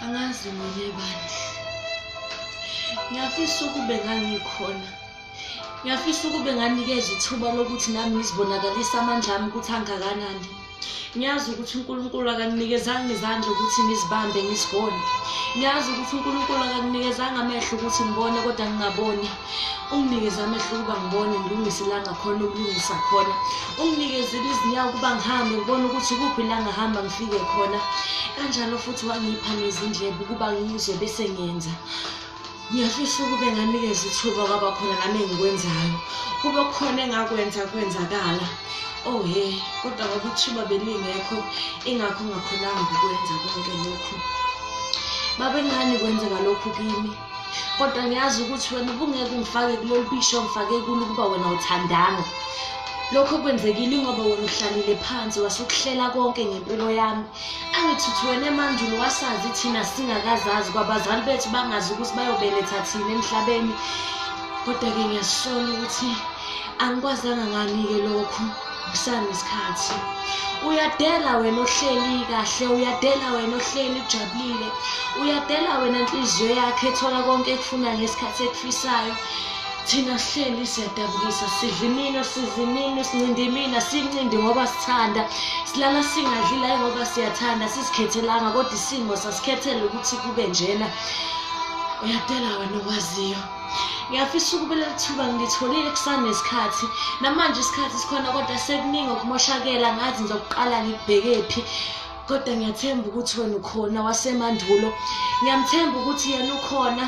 angazi mina bandla ngiyafisa ukube ngangikhona ngiyafisa ukube nganikezwa ithuba lokuthi nami ngizibonakalise amandla ami ukuthi angakanani ngiyazi ukuthi unkulunkulu akanginikezanga izandla ukuthi ngizibambe ngizigone ngiyazi ukuthi unkulunkulu akanginikezanga amehlo ukuthi ngibone kodwa ngingaboni unginikeze amehlo ukuba ngibone ngilungise la ngakhona ukulungisa khona unginikezile izinyawo ukuba ngihambe ngibone ukuthi kuphi la ngahamba ngifike khona kanjalo futhi wangipha nezindlebe ukuba ngizwe bese ngenza ngiyafisa ukube nganikeza ithuba kwaba khona nami engikwenzayo kube khona engakwenza kwenzakala oh he kodwa ngoba ithuba belingekho ingakho ngakhonanga ukwenza konke lokhu babengani kwenzeka lokhu kimi kodwa ngiyazi ukuthi wena ubungeke ungifake kulolu bisho ngifake kulo ukuba wena uthandanga lokho kwenzekile ngoba wena uhlalile phansi wasukuhlela konke ngempilo yami angithi uthi wena emandulo wasazi thina singakazazi kwabazali bethu bangazi ukuthi bayobeletha thina emhlabeni kodwa-ke ngiyasola ukuthi angikwazanga ngani-ke lokhu Kusani isikhathi. Uyadela wena ohleli kahle, uyadela wena ohleli ujabulile. Uyadela wena inhliziyo yakhe ethola konke ekufuna ngesikhathi ekufisayo. Thina sihleli siyadabukisa, sidla imino, siza imino, sincinde imina, sincinde ngoba sithanda. Silala singadli la ngoba siyathanda, sizikhethelanga kodwa isimo sasikhethela ukuthi kube njena. Uyadela wena owaziyo. ngiyafisa ukube leli thuba ngilitholile kusanesikhathi namanje isikhathi sikhona kodwa sekuningi okumoshakela ngazi ngizokuqala ngikubheke phi kodwa ngiyathemba ukuthi wena ukhona wasemandulo ngiyamthemba ukuthi yena ukhona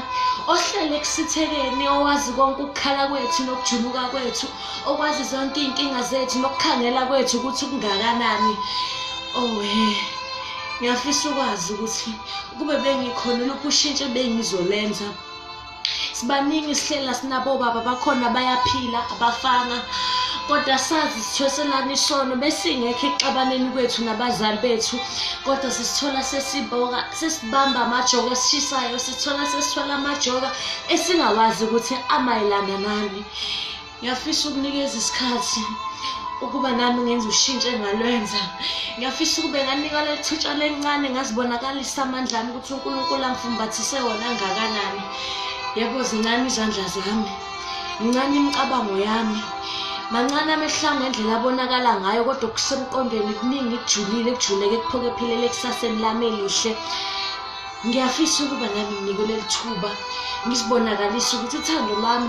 ohlele ekusithekeni owazi konke ukukhala kwethu nokujuluka kwethu okwazi zonke iy'nkinga zethu nokukhangela kwethu ukuthi kungakanani owe oh, ngiyafisa ukwazi ukuthi kube bengikhona lokhu ushintshe bengizolenza sibaningi sihlela sinabo baba bakhona bayaphila abafanga kodwa sazi sithoselana isono besingekho ekuxabaneni kwethu nabazali bethu kodwa sisithola sesiboka sesibamba amajoka esishisayo sithola sesithola amajoka esingawazi ukuthi amayelana nani ngiyafisa ukunikeza isikhathi ukuba nami ngenza ushintsho engalwenza ngiyafisa ukube nganika lethitsha lencane ngazibonakalisa amandla ami ukuthi unkulunkulu angifumbathise wona angakanani yebo zincane izandla zami mncane imicabango yami mancane amehla ngendlela abonakala ngayo kodwa okusemqondweni kuningi kujulile kujuleke kuphoke philele ekusaseni lami elihle ngiyafisa ukuba nami nginikwe leli thuba ngizibonakalise ukuthi uthando lwami